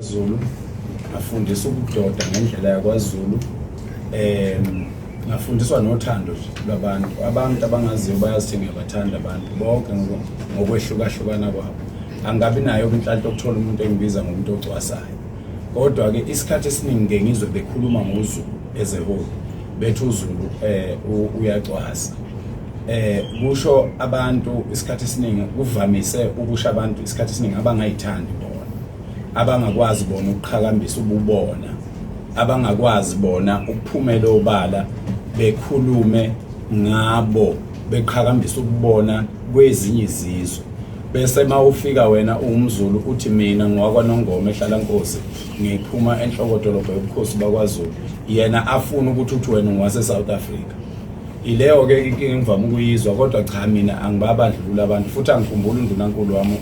Zulu ngafundisa ukudoda ngendlela yakwaZulu um ngafundiswa nothando lwabantu abantu abangaziyo bayazithenga bathanda abantu bonke ngokwehlukahlukana kwabo angabi nayo inhlanhla okuthola umuntu engibiza ngomuntu ocwasayo kodwa-ke isikhathi esiningi ke ngizwe bekhuluma ngozulu as a whole bethi uzulu um uyacwasa um kusho abantu isikhathi esiningi kuvamise ukusho abantu isikhathi esiningi abangayithandi abangakwazi bona ukuqhakambisa ububona abangakwazi bona ukuphumela obala bekhulume ngabo beqhakambisa ukubona kwezinye izizwe bese uma ufika wena uwumzulu uthi mina ngowakwanongoma ehlala nkosi ngiphuma enhlokodolobha yobukhosi bakwazulu yena afuna ukuthi uthi wena ngowase-south africa ileyo-ke inkinga engivame ukuyizwa kodwa cha mina angibabandlulula abantu futhi angikhumbuli undunankulu wami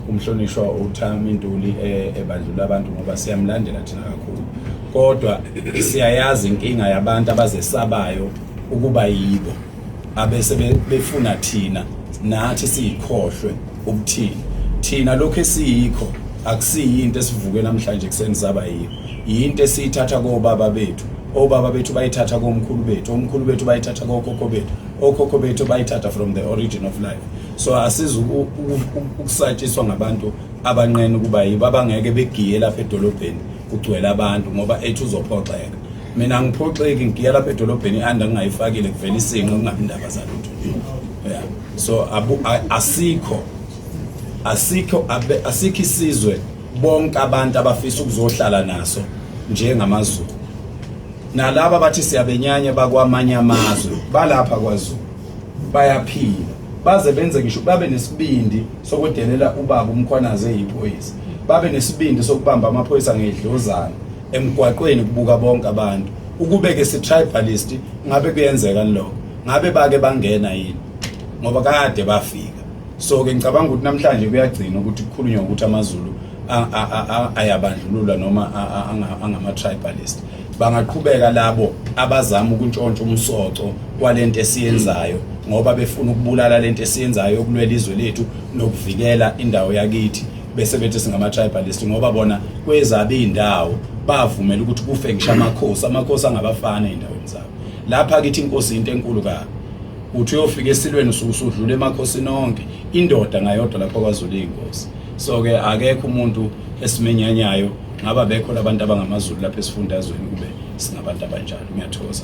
umhlonishwa uThami Ntuli eh, ebandlula abantu ngoba siyamlandela thina kakhulu kodwa siyayazi inkinga yabantu abazesabayo ukuba yibo abese befuna thina nathi siyikhohlwe ukuthini thina lokho esiyikho akusiyinto esivuke namhlanje kuseni saba yiyo yinto esiyithatha kobaba bethu obaba bethu bayithatha komkhulu bethu omkhulu bethu bayithatha kokhokho bethu okhokho bethu bayithatha from the origin of life so asiza ukusatshiswa ngabantu abanqena ukuba yibo abangeke begiye lapha edolobheni kugcwele abantu ngoba ethi uzophoxeka mina ngiphoxeki ngigiya lapha edolobheni i-anda ngingayifakile kuvela isinqe kungabi ndaba zalutho yeah. so abu, asikho asikho asikho isizwe bonke abantu abafisa ukuzohlala naso njengamazulu nalaba bathi siyabenyanya bakwamanye amazwe balapha kwazulu bayaphila baze benze ngisho babe nesibindi sokudelela ubaba umkhwanazi eyiphoyisa babe nesibindi sokubamba amaphoyisa ngedlozana emgwaqweni kubuka bonke abantu ukube ke si tribalist ngabe kuyenzeka lokho ngabe bake bangena yini ngoba kade bafika so ke ngicabanga ukuthi namhlanje kuyagcina ukuthi kukhulunywa ukuthi amazulu ayabandlulula noma angama tribalist Bangaqhubeka labo abazama ukuntshontsha umsoco kwalento esiyenzayo ngoba befuna ukubulala lento esiyenzayo yokulwela izwe lethu nokuvikela indawo yakithi bese bethi singama-tribalist ngoba bona kwezabe iy'ndawo bavumela ukuthi kufe ngisho amakhosi amakhosi angabafana ey'ndaweni zabo lapha kithi inkosi yinto enkulu kabi uthi uyofika esilweni usuke usudlula emakhosini onke indoda ngayodwa lapha kwazulu iy'nkosi so-ke akekho umuntu esimenyanyayo ngaba bekhona abantu abangamazulu lapha esifundazweni kube singabantu abanjalo ngiyathokoza